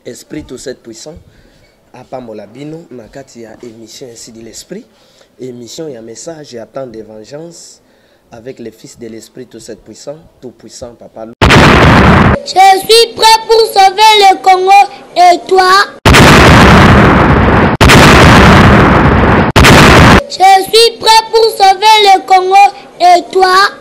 esprit tout cette puissant apambola bino na kati ya émission ya sidi l'esprit émission ya message ya temps de vengeance avec le fils de l'esprit tout cette puissant tout puissant papa je suis prêt pour sauver le congo et toi je suis prêt pour sauver le congo et toi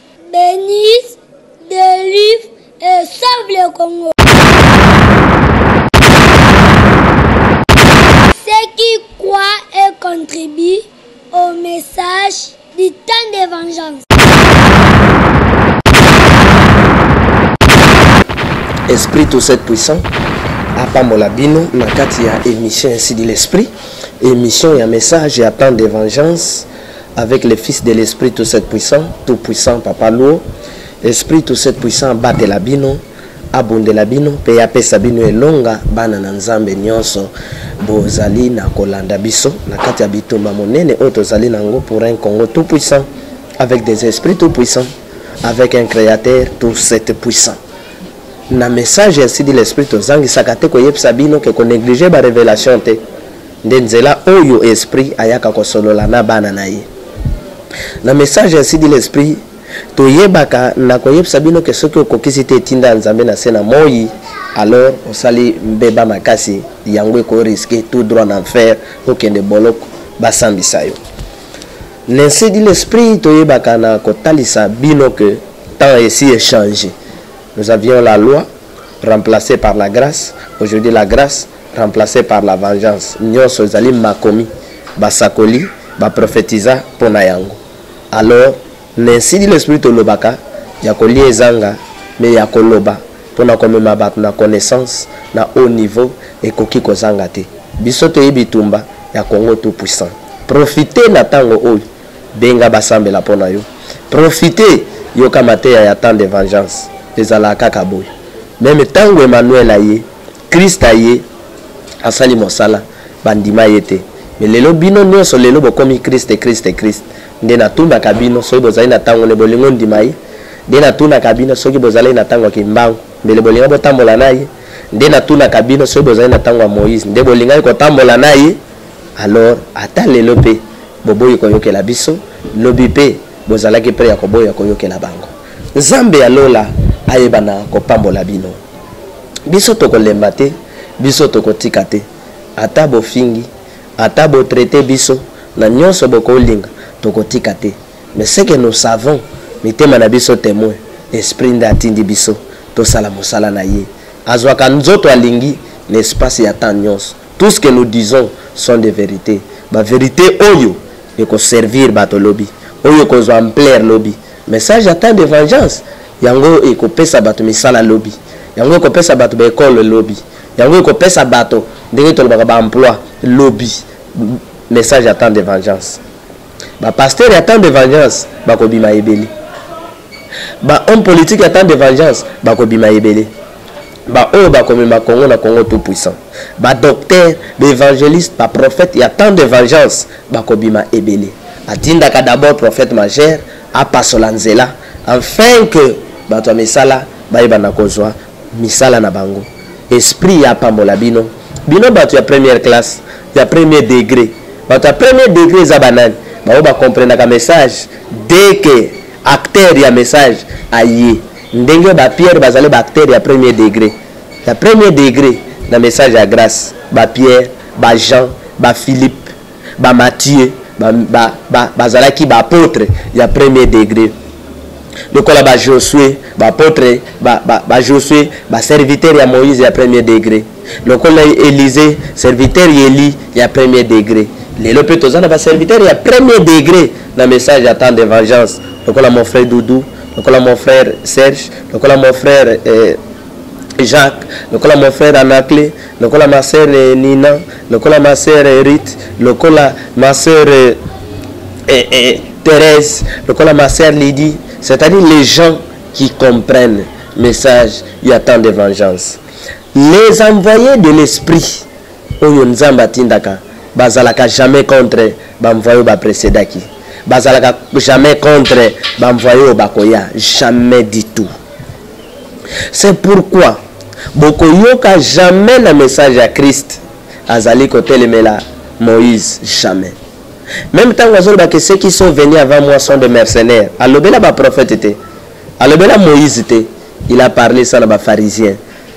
Denise, Delive et Sauve le Congo. Ceux qui croient et contribuent au message du temps de vengeance. Esprit tout cette puissant apambola bino na kati ya émission ainsi dit l'esprit émission ya message ya temps de vengeance avec le fils de l'esprit tout cette puissant tout puissant papa luo esprit tout cette puissant abatela bino abundela bino mpe apesa bino elonga bana na nzambe nyonso bozali na kolanda biso na kati ya bitumba monene oyo tozali na yango pour un congo tout puissant avec des esprits tout puissants avec un créateur tout cette puissant na message ya sidi l'esprit tozangisaka te koyebisa bino ke konéglige barévélation te Nde nzela oyo Esprit ayaka kosolola na bana na ye. Na message ainsi dit l'Esprit, toyebaka na koyebisa bino ke soki okokisi te etinda ya Nzambe na se na moi, alors osali mbeba makasi, yango eko risque tout droit na enfer, okende boloko, basambisa yo. N'ainsi dit l'Esprit, toyebaka na kotalisa bino ke temps esi echange. Nous avions la loi remplacée par la grâce, aujourd'hui la grâce remplace par la vengeance nyonso ezali makomi basakoli baprofetiza mpo na yango alors nensi di l'esprit tolobaka ya kolia ezanga me ya koloba mpo na komema bato na connaissance na haut niveau ekoki kozanga te biso toye bitumba ya congo tout puissant profite na ntango oyo benga basambela mpo na yo profite yoka mateya ya temps de vengeance ezalaka kaka boye meme ntango emmanuel aye Christ aye asali mosala bandima ye te mais lelo bino nionso lelo bokomi Christ Christ Christ nde natunaka bino soki bozali na tango ne bolingo ndima ye nde natunaka bino soki bozali na tango ya kimbangu mbele bolinga botambola na ye nde natunaka bino soki bozali na tango ya Moïse nde bolingaki kotambola na ye alors ata lelo pe boboyi koyokela biso lobi pe bozalaki pre ya koboya koyokela bango nzambe ya lola ayebana kopambola bino biso tokolemba te biso tokotika te ata bofingi ata bo traite biso na nyonso bokolinga tokotika te mais ce que nous savons mitema na biso temoin esprit nde atindi biso tosala mosala na ye azwaka nzoto alingi na espace ya temps nyonso tout ce que nous disons sont des vérités ba vérité oyo ekoservir bato lobi oyo ekozwa ampleur lobi Message ya temps de vengeance yango ekopesa bato misala lobi, yango ekopesa bato ba ekole lobi, yango ekopesa bato ndenge tolobaka ba emploi lobi. Message ya temps de vengeance. Ba pasteur ya temps de vengeance bakobima ebele. Ba homme politique ya temps de vengeance bakobima ebele. baoyo bakomema congo na congo tout puissant badocteur baevangeliste baprophète ya temps de vengeance bakobima ebele atindaka d'abord prophète majeur apasola nzela enfin que bato ya misala bayebana kozwa misala na bango esprit ya apambola bino bino bato ya première classe ya premier degré bato ya premier degré eza banani bango bakomprenaka message dès que acteur ya message aye ndenge ba pierre bazali ba acteur ya premier degre ya premier degre na message ya grace ba pierre ba jean ba philippe ba mathieu bazalaki ba, ba, ba baapotre ya premier degre lokola ba josue baapotre ba, ba, ba josue baserviteur ya moïse ya premier degre lokola elise serviteur ya eli ya premier degre lelo mpe toza na baserviteur ya premier degre na message ya temps de vengeance lokola mon frère doudou lokola mon frère serge lokola mon frère eh, jacques lokola mon frère anacle lokola ma sœur eh, nina lokola ma sœur eh, rite lokola ma sœur eh, eh, eh, thérèse lokola ma sœur lydie c'est-à-dire les gens qui comprennent message il y a tant de vengeance les envoyés de l'esprit oyo nzambe atindaka bazalaka jamais contre bamvoi oyo baprecedaki bazalaka jamais contre bamvoi oyo bakoya jamais du tout c'est pourquoi bokoyoka jamais na message ya krist azali kotelemela moïse jamais meme ntango azoloba ke ceux qui sont venus avant moi sont de mercenaires alobela baprophète te alobela moïse te il a parlé ça na bapharisien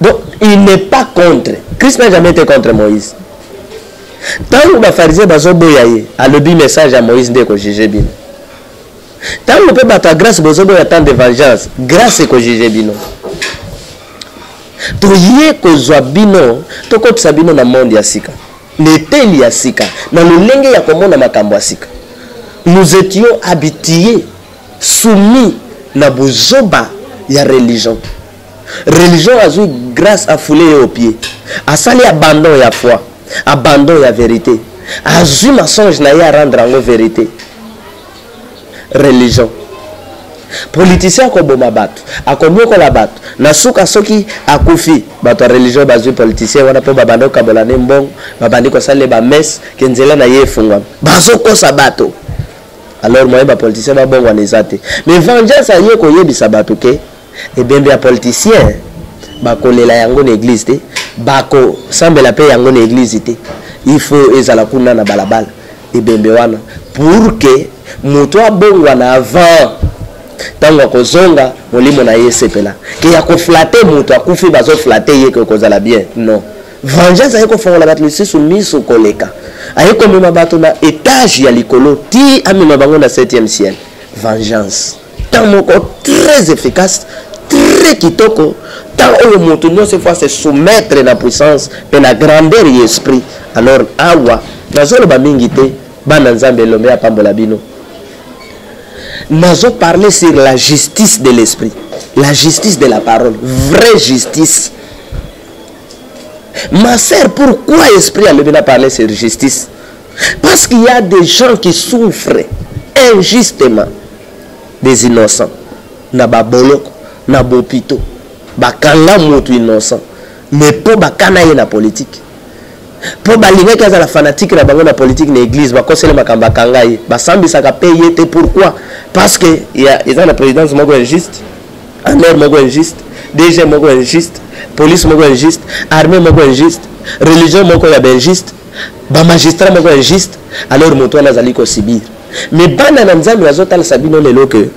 donc il n'est pas contre christ n'a jamais été contre moïse ntango bafarisien bazoboya ye alobi message ya moïse nde ekojuge bino ntango mpe bato ya grâce bozoboya temps de vengeance grâce ekojuge bino toye kozwa bino tokotisa bino na monde ya sika na eteli ya sika na lolenge ya komona makambo ya sika nous étions habitués soumis na buzoba ya religion religion azui grace a foule ye au pied asali abandon ya foi abandon ya verite azui mensonge na ye a rendre yango verite religion politicien akoboma bato akonyokola bato na suka soki akufi bato ya religion bazwi politicien wana mpo babandi kokabola ne mbongo babandi kosalela bamese ke nzela na ye efungwami bazokosa bato alors moyen ba politicien babongwana eza te mais vengeance aye koyebisa bato ke ebembe ya politicien bakolela yango na eglise te bakosambela mpe yango na eglise te il faut ezala kuna na balabala ebembe wana pour ke moto abongwana avant ntango akozonga molimo na ye esepela ke ya koflate moto akufi bazoflate ye ke okozala bien non Vengeance aye kofongola bato misusu miso koleka. Aye komema bato na etage ya likolo ti amema bango na 7e ciel. Vengeance. Temps moko très efficace, très kitoko, temps oyo moto nyonso efo se soumettre na puissance mpe na grandeur ya esprit. Alors awa nazoloba mingi te, bana Nzambe elombe apambola bino. Nazo parler sur la justice de l'esprit, la justice de la parole, vraie justice. Ma sœur, pourquoi esprit à Mebina parler sur justice Parce qu'il y a des gens qui souffrent injustement. Des innocents. Na baboloko, na bopito. Bakanga moto innocent. Mais pour bakana ye na politique. mpo balingaki azala fanatike na bango na politike na église bakoseli makambo akanga ye basambisaka mpe ye te pourquoi parce que eza na présidence moko ya juste Amère moko injuste, DG moko injuste, police moko injuste, armée moko injuste, religion moko ya injuste, ba magistrat moko injuste, alors moto wana azali ko subir. Mais bana na Nzambe bazotalisa bino lelo que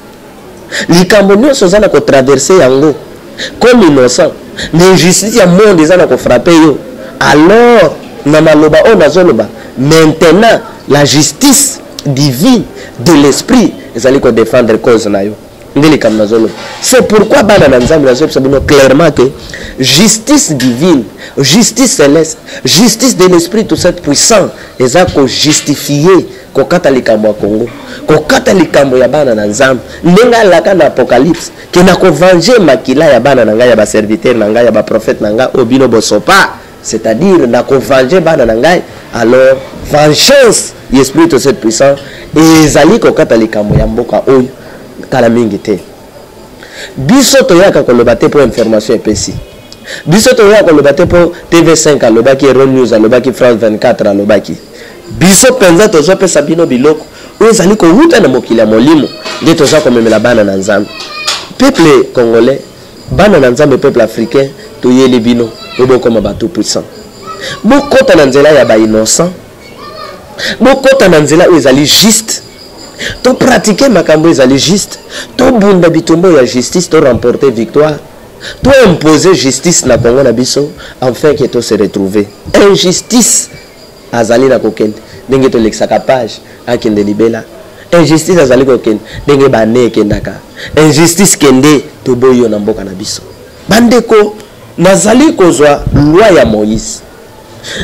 likambo nyonso oza na ko traverser yango comme innocent, mais injustice ya monde eza na ko frapper yo. Alors na maloba oyo nazoloba maintenant la justice divine de l'esprit ezali ko défendre cause na yo. nde likambo nazoloba c'est pourquoi bana na nzambe nazoyebisa bino clairement que justice divine justice céleste justice de l'esprit tout cette puissant eza kojustifie kokata likambo ya congo kokata likambo ya bana na nzambe ndenge alaka na apocalypse ke na kovange makila ya bana na ngai ya baserviteur na ngai ya baprofete na ngai oyo bino bosopa c'est-à-dire na ko venger bana na ngai alors vengeance ya esprit to cette puissance ezali kokata likambo ya mboka oyo kala mingi te biso toyaka koloba te mpo information epesi biso toyaka koloba te mpo tv5 alobaki eron news alobaki france 24 alobaki biso mpenza tozopesa bino biloko oyo ezali kowuta na mokili ya molimo nde toza komemela bana na nzambe peuple congolais Bana na Nzambe peuple africain toyeli bino po bokoma ba tout puissant. Bokota na nzela ya ba innocent. Bokota na nzela oyo ezali juste. To pratiquer makambo ezali juste. To bunda bitumba ya justice to remporter victoire. To imposer justice na Congo na biso enfin que to se retrouver. Injustice azali na kokende ndenge tolekisaka page akende libela injustice azali kokende ndenge bane ekendaka injustice kende toboyi yo na mboka na biso bandeko nazali kozwa loi ya moïse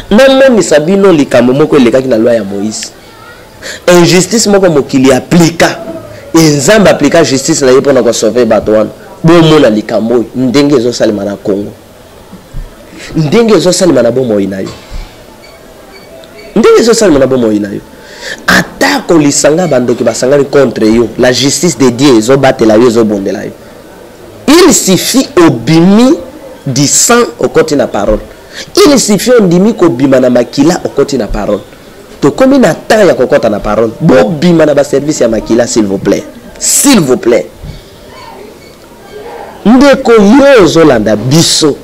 namonisa bino likambo moko elekaki na loi ya moïse injustice moko mokili aplika enzambe aplika justice na ye mpo na kosauve bato wana bomona likambo oyo ndenge ezosalema na congo ndenge ezosalema na bomoi na yo ndenge ezosalema na bomoi na yo atako lisanga bandoki basangani contre yo la justice de dieu ezobatela yo ezobondela yo il suffit obimi du sang okoti na parole il suffit ondimi kobima na makila okoti na parole tokomi na temps ya kokɔta na parole bobima na baservice ya makila s'il vous plaît s'il vous plaît Ndeko yo ozolanda biso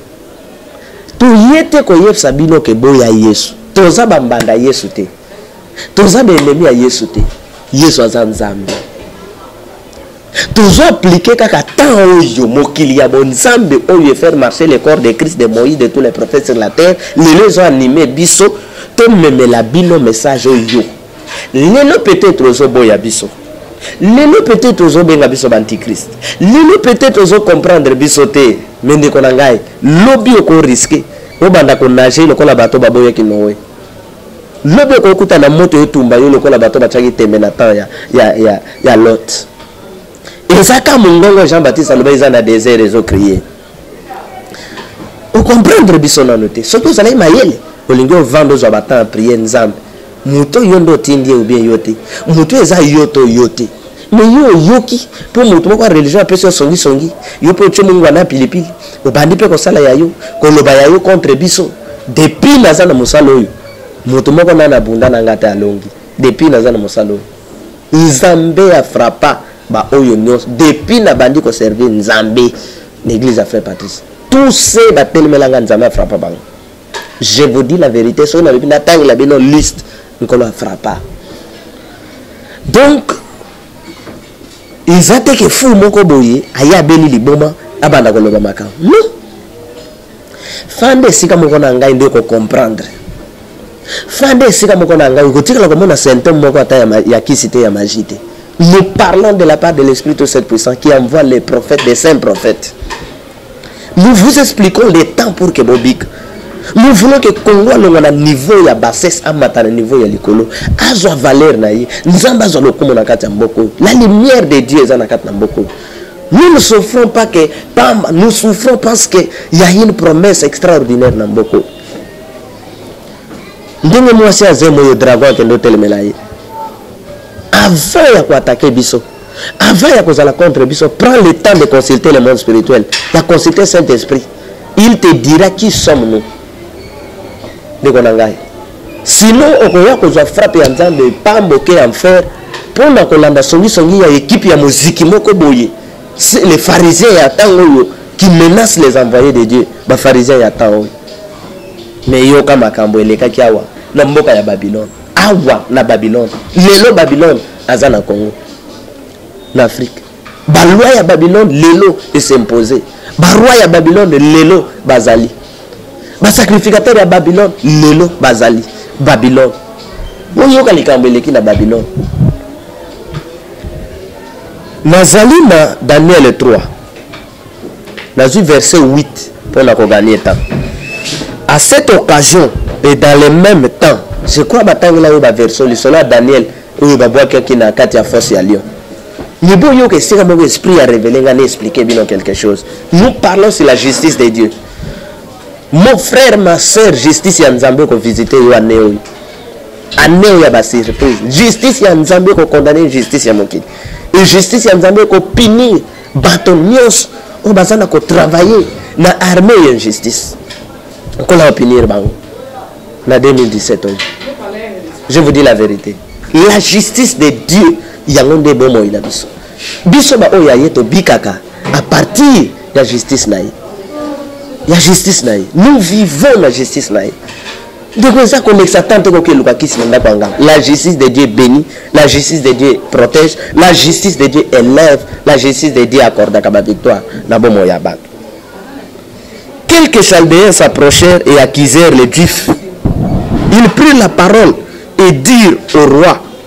toye te koyebisa bino ke boya yesu toza ba mbanda yesu te toza ba enemi ya yesu te yesu aza nzambe tozo aplike kaka temps oyo mokili ya bonzambe oyo efaire marcher le corps de christ de moïse de tous les prophètes sur la terre lelo ezo anime biso tomemela bino message oyo lelo peut-être ozoboya biso lelo peut-être ozobenga biso baantichrist lelo peut-être ozocomprendre biso te me ndeko na ngai lobi okoriske obanda konage lokola bato baboyaki noe lobi okokuta na moto etumba yo lokola bato batiaki tembe na temps ya, ya, ya, ya lot ezaka mongongo jean baptiste aloba eza na desert ezocrie okomprendre biso nano te soki ozalaki mayele olingi ovanda ozwa batemp ya priere nzambe moto oyo nde otindi ye obien yo te moto oyo eza yo to yo te me yo oyoki mpo moto moko ya religion apesi yo songisongi yo mpe otye mongwa na pilipili obandi mpe kosala ya yo koloba ya yo contre biso depuis naza na mosala oyo moto moko nana abunda na ngai te alongi depuis naza na mosala oyo nzambe ya frappa ba oyo nyonso depuis na bandi ko servir nzambe na église ya frère patrice tous ces batelemela nga nzambe afrappa bango je vous dis la vérité soki nalobi natangela bino liste nkolo afrappa donc eza te ke fou moko boye aye abeli liboma abanda koloba makambo non fanda esika moko na ngai nde kocomprendre fanda esika moko na ngai okotikala komona symptome moko ata ya, ya kisi te ya magie te nous parlons de la part de l'esprit tout cette puissant qui envoie les prophètes des saints prophètes nous vous expliquons les temps pour que bobika nous voulons que congo alonga na niveau ya bassesse amata na niveau ya likolo azwa valeur na ye nzambe azwa lokumu na kati ya mboka oyo la lumière de dieu eza na kati na mboka oyo Nous ne souffrons pas que pamba, nous souffrons parce que il y a une promesse extraordinaire na mboko. Ndenge mwasi azemo yo dragon akende otelemela ye. Avant ya koatake biso, avant ya kozala contre biso, prends le temps de consulter le monde spirituel, ya consulter Saint-Esprit. Il te dira qui sommes nous. Ndeko na ngai. Sino okoya kozwa frappe ya Nzambe pambo ke enfer mpo na kolanda songisongi ya ekipe ya moziki moko boye. Les pharisiens ya ntango oyo qui menacent les envoyés de Dieu, ba pharisiens ya temps oyo. Mais yoka makambo elekaki awa na mboka ya Babylone. Awa na Babylone. Lelo Babylone aza na Congo. Na Afrique. balwa ya babylone lelo esimpose barwa ya babylone lelo bazali basacrificateur ya babylone lelo bazali babylone boyoka likambo eleki na babylone nazali na daniel 3 nazwi verset 8 mpo na koganie temps à cette occasion et dans le même temps je crois batangela yo baversion lisolo ya daniel oyo babwakaki na kati ya force ya lion Mais bon, yo, que c'est comme l'esprit a révélé, a expliqué bien quelque chose. Nous parlons sur la justice de Dieu. Mon frère, ma soeur, justice ya Nzambe ko visiter yo année oyo. Année oyo ya ba surprise. Justice ya Nzambe ko condamner justice ya mokili. Et justice ya Nzambe ko punir bato nyonso oyo baza na ko travailler na armée ya injustice. Okola ko punir bango na 2017 oyo. Je vous dis la vérité. La justice de Dieu yango nde bomoi na biso biso baoyo ya ye tobikaka à partir ya justice na ye ya justice na ye nous vivons na justice na ye ndeko eza kolekisa temps te koki eluka kisi na ndako ya nganga la justice de dieu béni la justice de dieu protège la justice de dieu élève la justice de dieu accordaka bavictoire na bomoi ya bato quelques chaldéens s'approchèrent et accusèrent les juifs ils prirent la parole et dirent au roi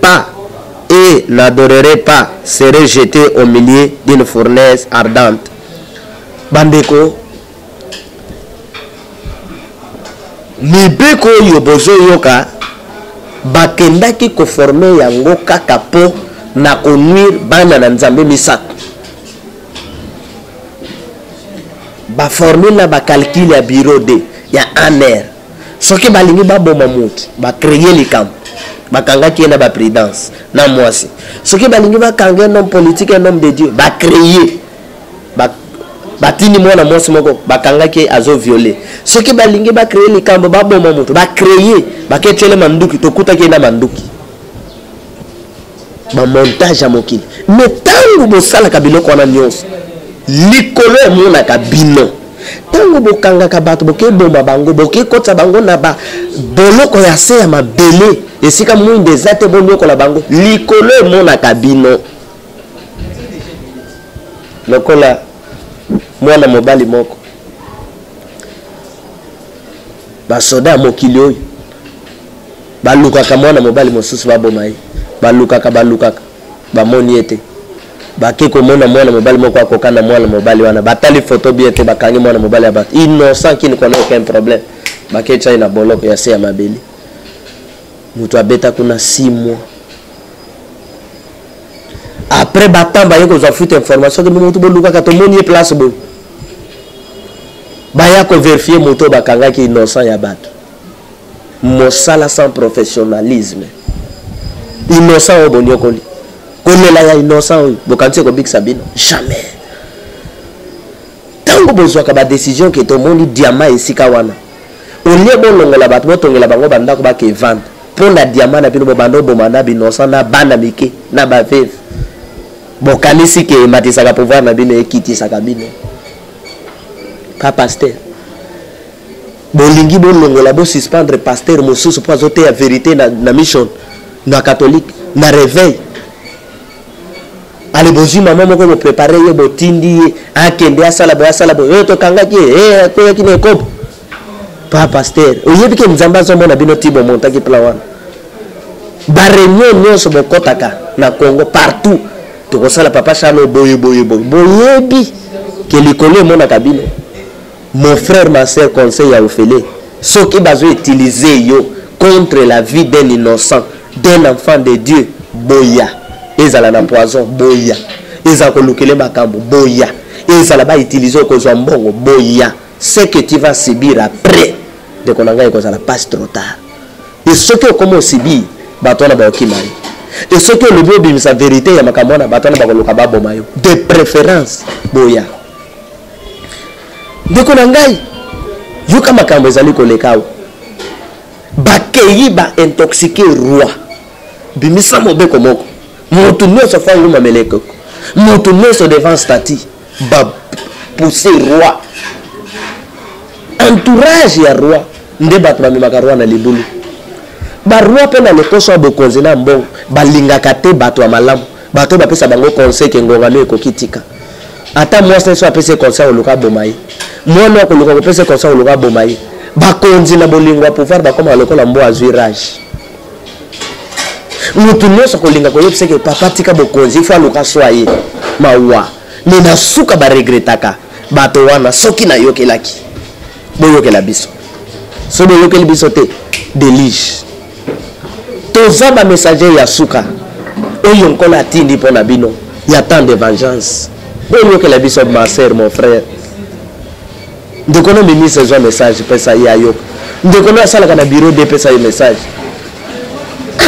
pas et n'adorerai pas serai jete au milieu d'une fournaise ardente bandeko mibeko oyo bozoyoka bakendaki koforme yango kaka mpo na konuire bana na nzambe misato baformule na bacalcule ya bureau de ya aner soki balingi baboma motu bacreye likambo bakangaki ye na bapridence na mwasi soki balingi bakanga un homme politique un homme de dieu bacreye batindi mwana mwasi moko bakangaki ye azo viole soki balingi bacreye likambo baboma motu bacreye baketyele manduki tokutaki ye na manduki bamontage ya mokili me ntango bosalaka biloko wana nyonso likolo emonaka bino ntango bokangaka bato bokeboma bango bokekotisa bango na baboloko ya se ya mabele esika mwinda eza te bonyokola bango likolo emonaka bino lokola mwana mobali moko basoda ya mokili oyo Balukaka mwana mobali mosusu baboma ye. Balukaka, balukaka. Bamoni ye te. Bake komona mwana mobali moko akoka na mwana mobali wana. Batali foto bien te, bakangi mwana mobali ya bato. Innocent qui ne connaît aucun problème. Bake tya ye na boloko ya se ya mabele. Moto abeta kuna 6 mois. Après batemps baye kozwa fute information ke moto bolukaka tomoni ye place boye. Baya ko vérifier moto bakangaki innocent ya bato. mosala sans professionnalisme innocent oyo boniokoli kolela ya innocent oyo bokanisi ekobikisa bino jamais ntango bozwaka badecision ke tomoni diama esika wana olie bolongola bato botongela bango bandako bakevanda mpo na diama na bino bobanda oboma na binosa na bana mike na baveve bokanisi ke ematisaka pouvoir na bino ekitisaka bino pa paster bolingi bolongola bo suspendre pasteur mosusu mpo azoteya verité na, na mission na catholique na réveil ale bozwi mama moko boprepare ye botindi ye akende asala boye asala boye oyo tokangaki ye eh, akweyaki na ekobo pa pasteur oyebi ke nzambe azomona bino ti bomontaki plan wana bareunion nyonso bokɔtaka na congo partout tokosala papa charlo boye boye boye boyebi ke likolo emonaka bino Mon frère ma sœur conseil ya ofele soki bazo utiliser yo contre la vie d'un innocent d'un enfant de Dieu boya ezala na poison boya ezala kolukele makambo boya ezala ba utiliser okozwa mbongo boya ce que tu vas subir après ndeko na ngai ekozala passe trop tard e soki okoma osubir bato wana baokima yo e soki olobi obimisa verité ya makambo wana bato wana bakoluka baboma yo de préférence boya ndeko na ngai yoka makambo ezali koleka awa bakeyi baintoxike roi bimisa mobeko moko moto nyonso afa nguma meleko moto nyonso devant stati bapousse roi entourage ya roi nde bato bamemaka roi na libulu baroi mpe na lokoso ya bokonzi na mbongo balingaka te bato ya malamu bato oyo bapesa bango conseil ke ngongano ekoki tika ata mwasi na biso apesi ye conseil akoluka aboma ye mwana akoluka kopesa ye conseil akoluka aboma ye bakonzi na bolingo ya pouvoir bakomaka lokola mbo azwi rage moto nyonso akolinga koyebisa ke papa tika bokonzi ifo aluka swa ye mawa me na suka baregretaka bato wana soki nayokelaki boyokela biso soki boyokeli biso te delige toza bamessager ya suka oyo nkolo atindi mpo na bino ya temps de vengeance boyokela biso ma sœur mon frère ndeko no ministre ezwa message pesa ye ayoka ndeko no asalaka na bureau de pesa ye message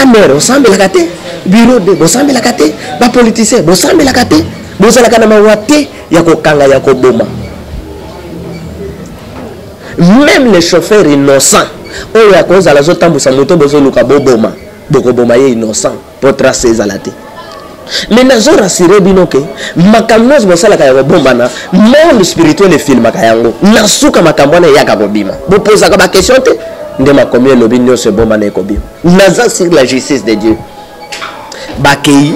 amere osambelaka te bureau de bosambelaka te bapoliticien bosambelaka te bozalaka na mawa te ya kokanga ya koboma meme le chauffeur innocent oyo akozala azotambusa moto bozoluka boboma bokoboma ye innocent mpo trace ezala te me nazo rassure bino ke makambo nyonso bosalaka ya kobombana monde spirituel efilmaka yango na suka makambo wana eyaka kobima bopozaka bakestion te nde makomi elobi nyonso ebombana ekobima naza sur la justice de dieu bakei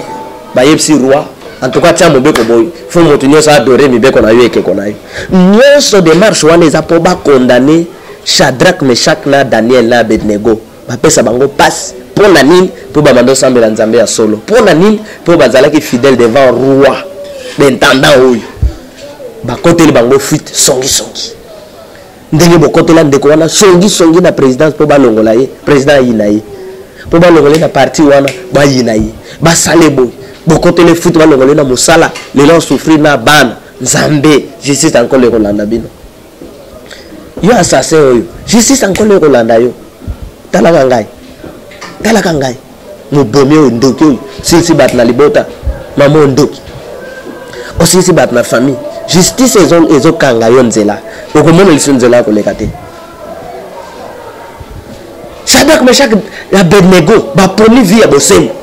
bayebisi roi en tout cas tia mobeko boye fo moto nyonso adore mibeko na yo ekeko na yo nyonso demarche wana eza mpo bakondane shadrak meshak na daniel na abednego bapesa bango mpasi mpo na nini mpo babanda osambela nzambe ya solo mpo na nini mpo bazalaki fidèle devant roi bentendant oyo bakoteli bango fuite songisongi ndenge bokotela ndeko wana songi songi na présidence mpo balongola ye président ayina ye mpo balongola ye na parti wana bayina ye basale boye bokotela efuti balongola ye na mosala lelo asouffrir na bana nzambe justice ankolo ekolanda bino yo assassin oyo justice ankolo ekolanda yo talaka ngai talaka ngai mobomi oyo ndoki oyo silisi bato na libota mama oyo ndoki osilisi bato na famille justice ezokanga yo nzela okomona lisu nzela ya koleka te shadrack meshak ya abednego bapomi vie ya bosembo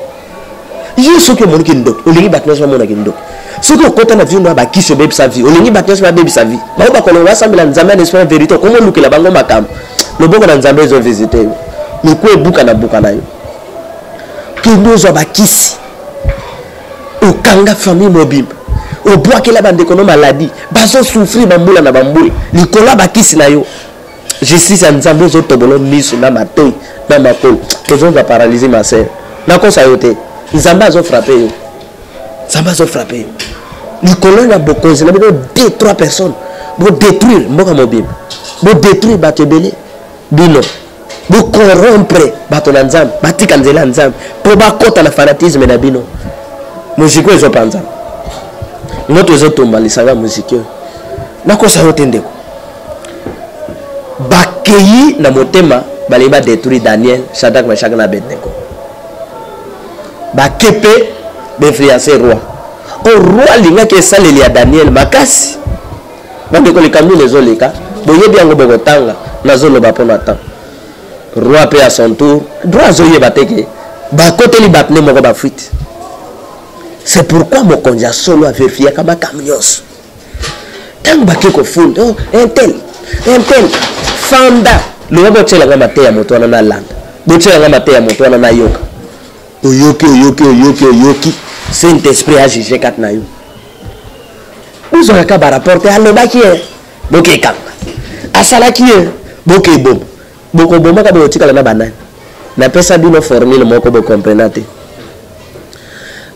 yo soki omoniki ndoki olingi bato nyonso bamonaki ndoki soki okota na vindo ya bakisi obebisa vie olingi bato nyonso babebisa vie bango bakolongo basambela nzambe na esprit ya verité okomi olukela bango makambo loboko na nzambe ezo visite yo miku ebuka na buka na yo kende ozwa bakisi okanga famille mobimba obwakela bandeko no maladi bazosouffrir bambula na bambula likolo ya bakisi na yo justice ya nzambe ezotobolo miso na matoi na makolo tozonza paralysie ma sœur nakosa yo te nzambe azofrape yo nzambe azo frappe yo likolo na bokonzi na bino de trois personnes bodétruire mboka mobimba bodétruire bato ebele bino bocorrompre bato na nzambe batika nzela ya nzambe mpo bakɔta na fanatisme na bino moziki oyo ezopanza moto ezotumba lisanga ya moziki oyo nakosa yo te ndeko bakeyi na motema balingi badétruire daniel shadrack meshak na abednego bakepe bainfluence roi o roi alingaki esaleli ya daniel makasi bandeko likambo nini ezoleka boyebi yango bokotanga nazoloba mpo na temps roi mpe ya son tour droit azoyeba te ke bakoteli bato nde moko bafuite c'est pourquoi mokonzi ya solo averifiaka makambo nyonso ntango bake kofunda oh, intel intel fanda loba botyela nga mateya moto wana nalanda botyela nga mateya moto wana nayoka oyoki oyoki oyoki oyoki saint esprit ajuge kati na yo bozwaka ka baraporte alobaki ye bokekanga asalaki ye bokeboma bokobomaka bokotikala na banani napesa bino formule moko bokomprena te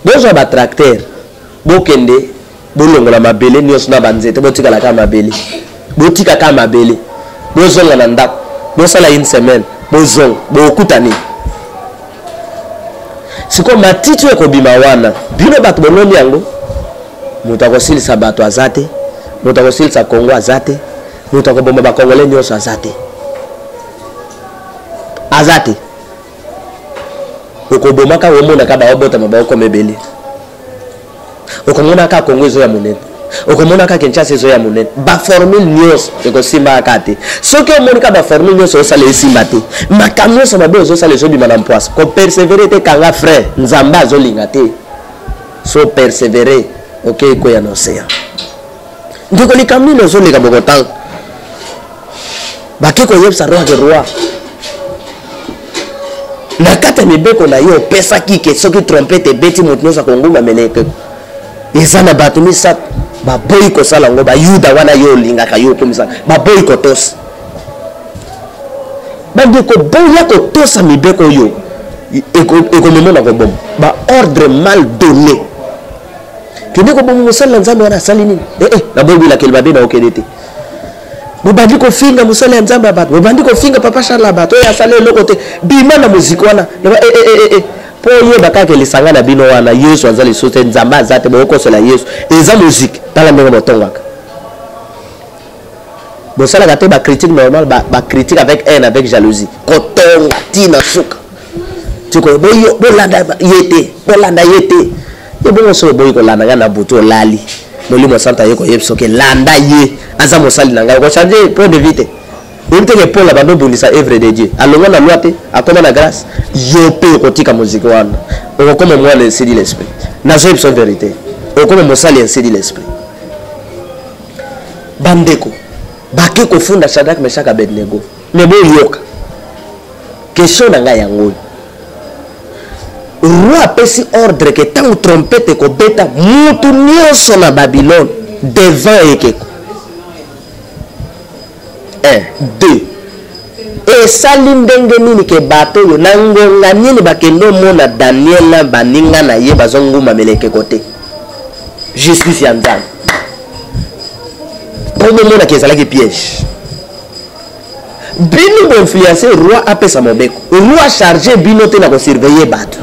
bozwa batracteur bokende bolongola mabele nyonso na banzete botikala kaka mabele botika kaka mabele bozonga na ndako bosala une semaine bozonga bokokuta nini sikoyo matiti oyo ekobima wana bino bato boloni yango moto akosilisa bato aza te moto akosilisa kongo aza te moto akoboma bakongole nyonso aza te aza te okobomaka omonaka baobotama baokoma ebele okomonaka kongo ezo ya monene okomonaka kinshasa ezo ya monene baformule nyonso ekosimbaka te soki omonika baformule nyonso osala esimba te makambo nyonso mabe ozosala ezobima na mpwasa kopersevere te kanga frai nzambe azolinga te so persevere okei okay, koya na ocean ndeko likambo nini ozoleka bokotanga bake koyebisa roi ke roi na kati ya mibeko na yo opesaki ke soki trompete ebeti moto nyonso akonguma mene ekeko eza na bato misato baboyi kosala yango bayuda wana yo olingaka yo okomisaka baboyi kotosa bandeko boya kotosa mibeko oyo ekomemona koboma baordre mal donne kende koboma mosali na nzambe wana asali nini ee eh, eh, naboyi bilakeli babe na okende te bobandi kofinga mosali ya nzambe ya bato bobandi kofinga papa charle ya bato oyo asali eloko te bima na moziki wana naba ee eh, mpo oyeba kaka lisanga na bino wana yesu aza lisusu te nzambe aza te bokokosola yesu eza moziki tala ndenge botongaka bosalaka te ba critique normal ba, ba critique avec haine avec jalousie kotonga ti na suka tiko boyo bolanda ye te bolanda ye te ebongo soki oboyi kolanda ngai na butu olali molimo santu aye koyebi soki landa ye aza mosali na ngai okochange point de vie te oyebi teke paul abanda obundisa evre de dieu alongwa na loi te akoma na grâce yo mpe okotika moziki wana okokoma mwana esili l'esprit nazoyebisa verité okoma mosali esili l'esprit bandeko bake kofunda sadrak mesaka abednego me boyoka question na ngai yango oyo roi apesi ordre ke ntango trompete ekobeta mutu nyonso na babylone devant ekeko 1 2 esali ndenge nini ke bato oyo na ngonga nini bakende omona daniel na baninga na ye bazongumbamela ekeko te justice ya nzambe mpo bomonaki ezalaki piège bino boinfluence roi apesa mobeko roi charge bino te na kosurveille bato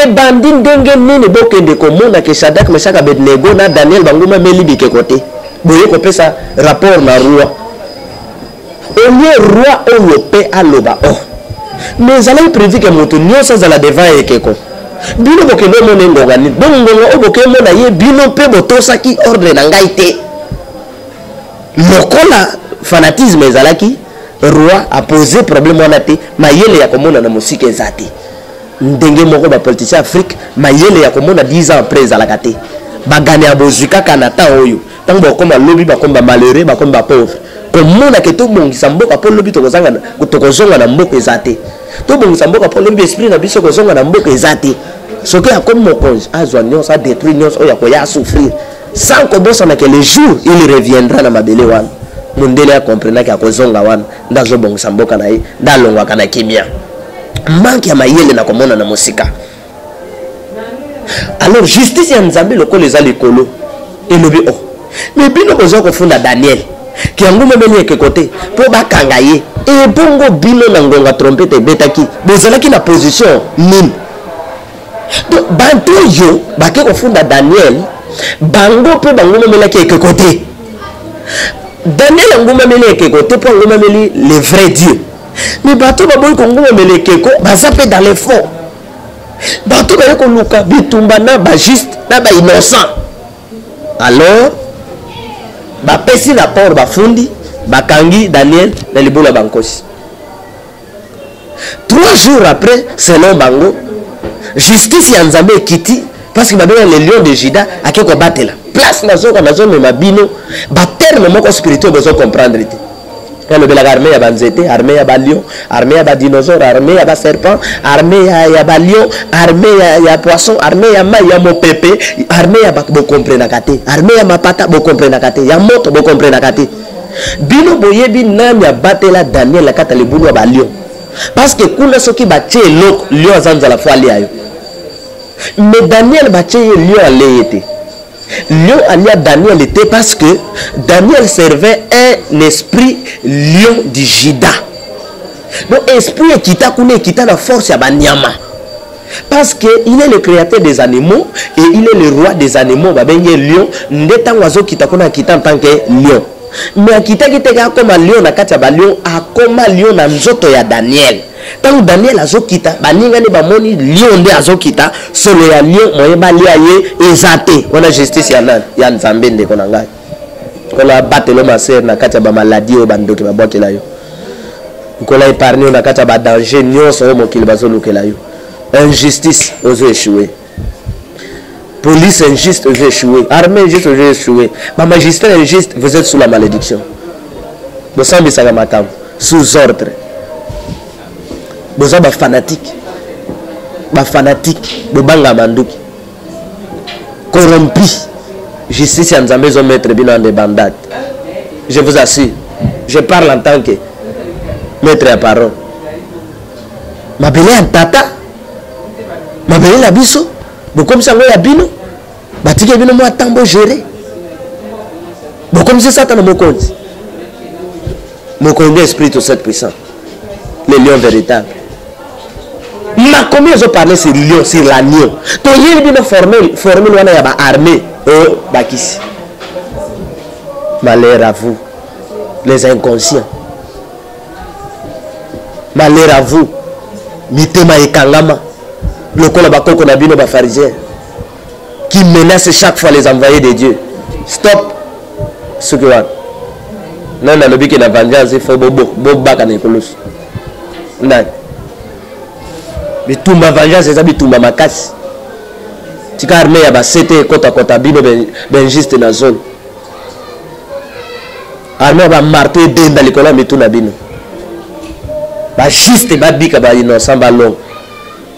ebandi ndenge nini bokende komona ke sadak mesaka abednego na daniel bango bameli bikeko te boye kopesa rapport na roi olie roi oyo mpe aloba o oh. me ezalaki prevu ke moto nyonso azala devant ekeko bino bokende omona engonga nini bongo ngonga oyo bokemona ye bino mpe botosaki ordre na ngai te lokola fanatisme ezalaki roi apose problème wana te mayele ya komona na mosika eza te ndenge moko bapoliticien ya afrique mayele ya komona 10 ans après ezalaka te bagane ya bozwi kaka na temps oyo ntango bakoma lobi bakomi bamalheureux bakomi bapauvre komona ke tobongisa mboka mpo lobi tokozonga na mboka eza te tobongisa mboka mpo lobi esprit na biso kozonga na mboka eza te soki akomi mokonzi azwa nyonso adetruire nyonso oyo akoya asouffrir sans kobosana ke le jour il reviendra na mabele wana mundele akomprenaki akozonga wana nde azobongisa mboka na ye nde alongwaka na kimia manke ya mayele na komona na mosika alors justice ya nzambe lokola eza likolo elobi o oh, me bino boza kofunda daniel ke yango momeli ekeko te mpo bakanga ye ebongo bino na ngonga trompete ebetaki bozalaki na position nini donc bantu oyo bake kofunda daniel bango mpe bango momelaki ekeko te daniel angumameli ekeko te mpo angumameli le vrai dieu mais bato baboyi kongumamela ekeko baza mpe dans le fond bato baye koluka bitumba na bajuste na bainnocent alors bapesi na port bafundi bakangi daniel na libolo ya bankosi trois jours après selon bango justice ya nzambe ekiti parce que babenga le lion de juda ake kobatela place nazoka nazomema bino baterme moko spirituel bozo comprendre te nalobelaka arme ya banzete arme ya balion arme ya badinosaure arme ya baserpent arme ya, ya balion arme ya, ya poisson arme ya mai ya mopepe arme ya bokomprenaka te arme ya mapata bokomprenaka te ya moto bokomprenaka te Bino boyebi nani abatela Daniel na kata libulu ya ba lion? Parce que kuna soki batie eloko lion aza nzala fo alia yo. Mais Daniel batie ye lion alee te. Lion alia Daniel te parce que Daniel servait un esprit lion du Juda. Donc esprit ekita kuna ekita na force ya banyama. parce que il est le créateur des animaux et il est le roi des animaux babengi ye lion nde ntango azokita kuna akita en tant que lion mais akitaki teke akoma lion na kati ya balion akoma lion na nzoto ya daniel ntango daniel azokita baninga nde bamoni lion nde azokita solo ya lion moye balia ye eza te wana justice ya nani ya nzambe ndeko na ngai nkolo abatelo masere na kati ya bamaladi oyo bandoki babwakela yo nkolo epargne yo na kati ya badanger nyonso oyo mokili bazolukela yo injustice ozo echoue police injuste ozo echoue armée injuste ozo echoue bamagistrat injuste vous êtes sous la malédiction bosambisaka makambo sous ordre boza bafanatique bafanatique bobanga manduki corrompu justice ya nzambe ezomettre bino en debandade je vous assure je parle en tant que maître ya parole mabele ya ntata mabele na biso bokomisi yango ya bino batike bino mwa ntango gere bokomisi satana mokonzi mokonzi nde esprit to set puissant le lion véritable makomi ezo parle sur lion sur l'agneau toyebi bino formule formule wana ya baarmée oyo bakisi malheur à vous les inconscients malheur à vous mitema ekangama lokola bakoko na bino bafarisien qui menace chaque fois les envoyés de Dieu. Stop ce que wana. Non, na lobi que la vengeance il faut bobo boba kana ekolosi. Ndani. Bitumba vengeance eza bitumba makasi. Tika armée ya ba CT kota kota bino ben, ben juste na zone. Armée ya ba marteau edenda likolo ya mitu na bino. Ba juste babika ba innocent balonga.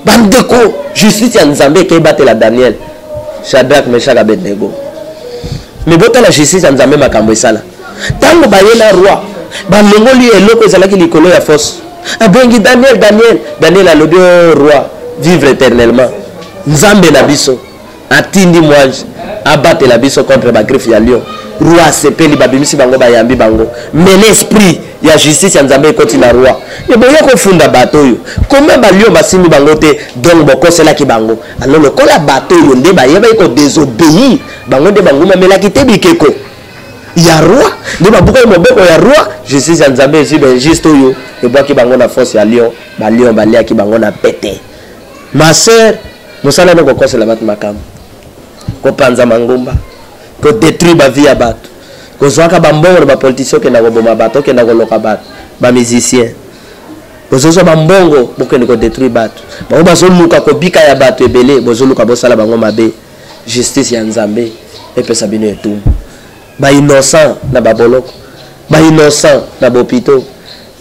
bandeko justice ya nzambe ekei batela daniel shadrack meshak abednego me botala justice ya nzambe makambo esala ntango baye na roi balongoli eloko ezalaki likolo ya fosse abengi daniel daniel daniel alobi o oh, roi vivre éternellement nzambe na biso atindi mwanje abatela biso contre ba griffe ya lion roi asepeli babimisi bango bayambi bango mele esprit ya justice ya nzambe ekoti na roi eboye kofunda bato oyo koma balio basimbi bango te donc bokoselaki bango ano lokola bato oyo nde bayebaki kodesobeyir bango nde bangumamelaki te bikeko ya roi nde babukaki moboko ya roi justice ya nzambe ezwi bainjuste oyo ebwaki bango na force ya lion balion baliaki bango na pete ma sœur mosala no kokosela bato makambo kopanza mangomba kodetruire bavie ya bato kozwaka bambongo na bapolitisien okenda koboma bato okenda koloka bato bamusicien bozozwa bambongo bokende kodetruire bato bango bazoluka kobika ya bato ebele bozoluka bosala bango mabe justice ya nzambe epesa bino etumbu bainnocent na baboloko bainnocent na bopito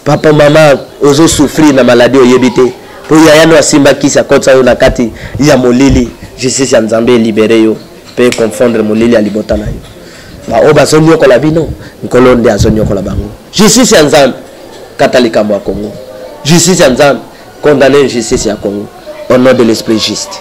Papa mama ozo souffrir na maladie oyebi te po yaya no asimba kisi akotisa yo na kati ya molili justice ya nzambe elibere yo pe confondre molili ya libota na yo baoyo bazoniokola bino nkolo nde azoniokola bango justice ya nzambe kata likambo ya congo justice ya nzambe condamne justice ya congo au nom de l'esprit juste